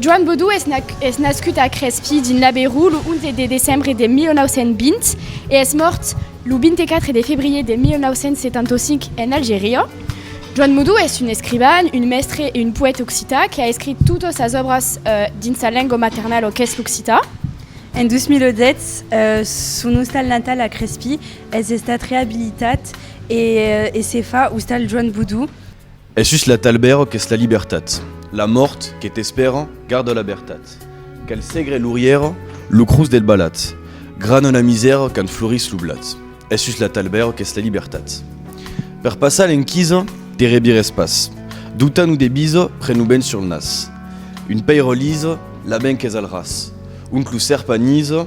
Joan Baudou es nascut a Crespí, dins l'Aveyron, lo 11 de decembre de 1920 e es mòrt Lo 24 de febrier de 1975 en Algeria. Joan Modou es un escrivan, un mèstre e un poète occità que a escrit totas sas òbras dins sa lenga maternala qu'es l'occità. En 2010, son ostal natal a Crespí es estat reabilitat e se fa Ostal Joan Modou. Es sus la talbèra qu'es la libertat. La mòrt que t'espèra, garda la vertat. Cal segre l'orièra, lo crus del balat. Grana la misèra quand florís lo blat. Es sus la talbèra qu'es la libertat. Per passar l'enquisa, te rebires pas. Dota-nous de bisa, pren-lo ben sur nas. Un pèira lisa, la ben qu'es al ras. Ont lo sèrp anisa,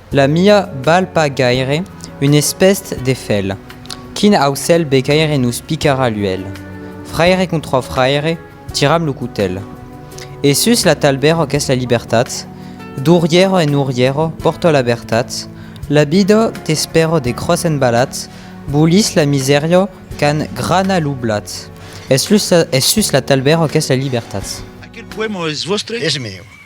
La mia val pas gaire un espèst de fèl. Quin aucèl becaire nos picarà l'uèlh? Fraire contra fraire, tiram lo cotèl. E sus la talbèra qu'es la libertat, dorièra en orièra pòrta la vertat, la vida t'espèra de cròs embalat, bolís la misèria qu'an grana lo blat. Es sus la talbèra qu'es la libertat. Aquel poèma es vòstre? Es meu.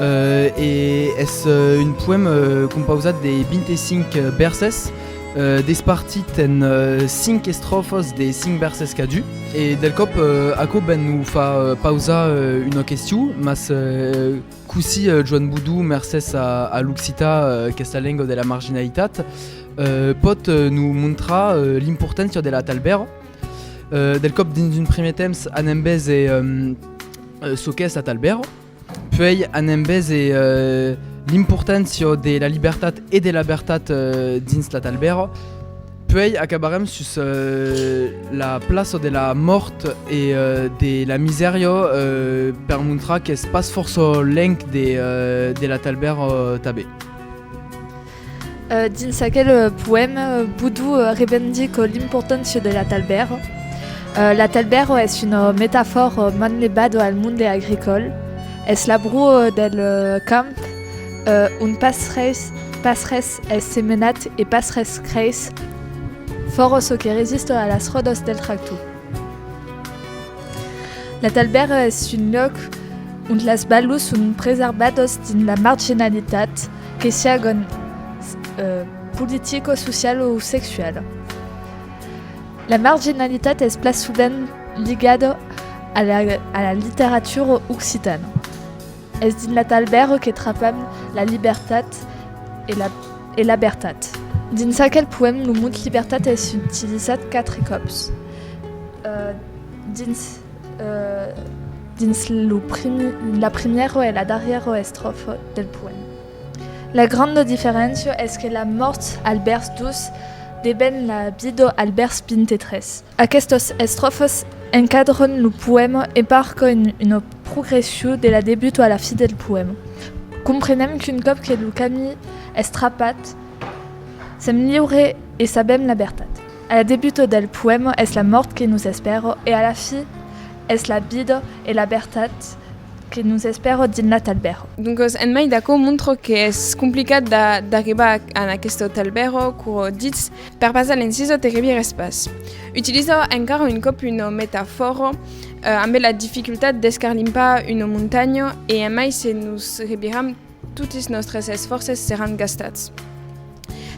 E es un poèm compausat de 25 bèrses, despartit en 5 estròfas de 5 bèrses cadun. E del còp, aquò ben o fa pausar una question, mas cossí Joan Boudou, mercés a l'occitan, aquesta lenga de la marginalitat, pòt nos montrar l'importància de la talbèra? Del còp, dins un primièr temps, anem veser çò qu'es la talbèra. Puèi an embés e l'importància de la libertat e de la vertat dins la talbèra. Puèi acabarem sus la plaça de la mòrt e de la misèria per montrar qu'es pas fòrça lenc de la talbèra tanben. Dins aquel poèma, Boudou revendic l'importància de l'atalbèra. L'atalbèra es una metafòra manlevada al monde agricòl. Es la broa del camp ont pas res es semenat e pas res creis, fòra çò que resista a las ròdas del tractor. L'atalbèra es un lòc ont las balhas son preservadas dins la marginalitat, que siágon politico, social o sexual. La marginalitat es pla sovent ligada a la a la literatura occitana. Es dins la talbèra que trapam la libertat e la e la bertat. Dins aquel poèm lo mot libertat es utilizat quatre còps dins. dins la primièra e la darrièra estròfa del poèm. La granda diferéncia es que la mòrt al bèrs 2 deven la vida al bèrs 23. Aquestas estròfas encadran lo poèma e marcan una progression de la debut a la fi del poèma. Comprenem qu'un còp que lo camí es trapat, sèm liure e sabèm la vertat. A la debuta del poèma es la mòrt que nos espèra e a la fi es la vida e la bertat que nos espèra dins la talbèra. Doncas, en mai d'aquò, montra qu'es complicat d'arribar en aquesta talbèra qu'aurò ditz, per passar l'encisa te revières pas. Utiliza encara un còp una metafòra ambe la dificultat d'escarlimpar una montanha e en mai se nos reviram, Totis nòstres esfòrces seràn gastats.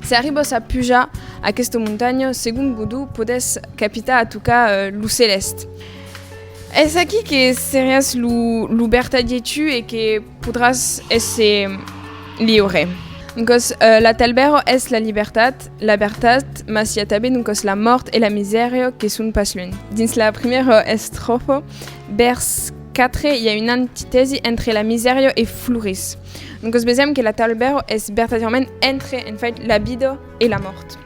Se arribos a pujar aquesta montanha, segon Godó, podètz capitar a tocar lo celèst. Es aquí que seràs lo vertadier tu e que podràs èsser liure. Doncas, la talbèra es la libertat, la vertat, mas i a tanben doncas la mòrt e la misèria que son pas lunh. Dins la primièra estròfa, vèrs. 4, i a una antitèsi entre la misèria e Floris. Doncas vesèm que la Table Bèro es vertadièrament entre, en fait, la vida e la mòrt.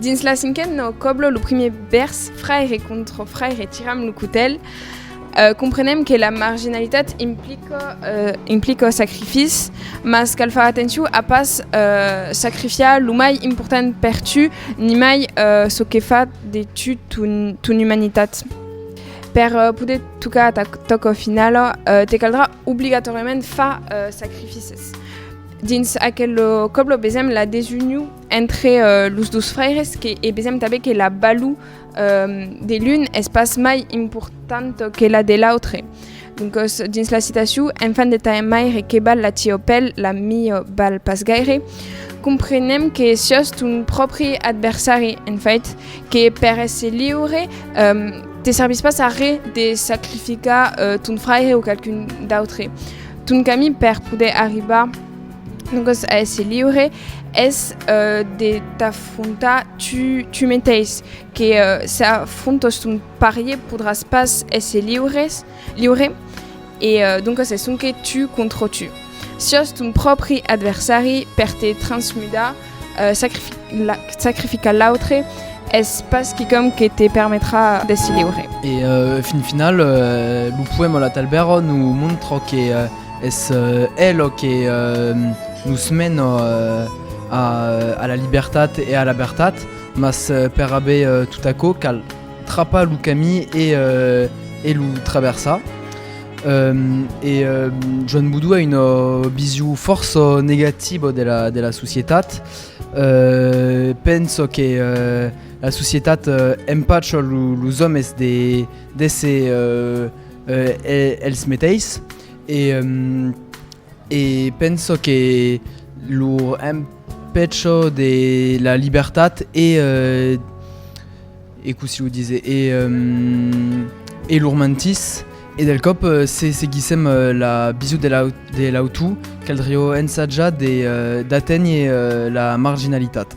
Dins la cinquèn no coblo lo primier vèrs fraire contra fraire tiram lo cotèl, eh, comprenem que la marginalitat implica, eh, implica sacrifici, mas cal far atencion a pas, eh, sacrifiar lo mai important per tu, nimai, eh, çò que fa de tu ton, ton umanitat. Per poder tocar ta tòca finala, te caldrà obligatòriament far sacrificis. Dins aquel còble besèm la desunion entre los dos fraires que, e besèm tanben que la balor de l'un es pas mai importanta que la de l'autre. Doncos, dins la citacion, enfant de taille maire que bal la tiò pel, la miò bal pas gaire, comprenem que siòs ton pròpri adversari, en fait, que per èsser liure te servís pas a re de sacrificar ton fraire o qualqu'un d'autre. Ton camin per poder arribar doncos a èsser liure es de t'afrontar tu, tu meteis, que s'afrontos ton, Parier podràs pas èsser liures, liure, e doncas es sonque tu contra tu. Siás ton pròpri adversari, per te transmudar, sacrificar l'autre, es pas quicòm que te permetrà d'èsser liure. E fin final, lo poèma La Talbèra nos montra que es ela que nos mena a la libertat e a la vertat. Mas per aver tot aquò cal trapar lo camí e lo traversar. E Joan Boudou a una vision fòrça negativa de la societat. Pensa que la societat empacha los òmes d'èsser els meteis e pensa que lor Peth çò de la libertat e lor mantís, e del còp se seguissèm la bisut de l'autor, caldrió ensajar d'aténher la marginalitat.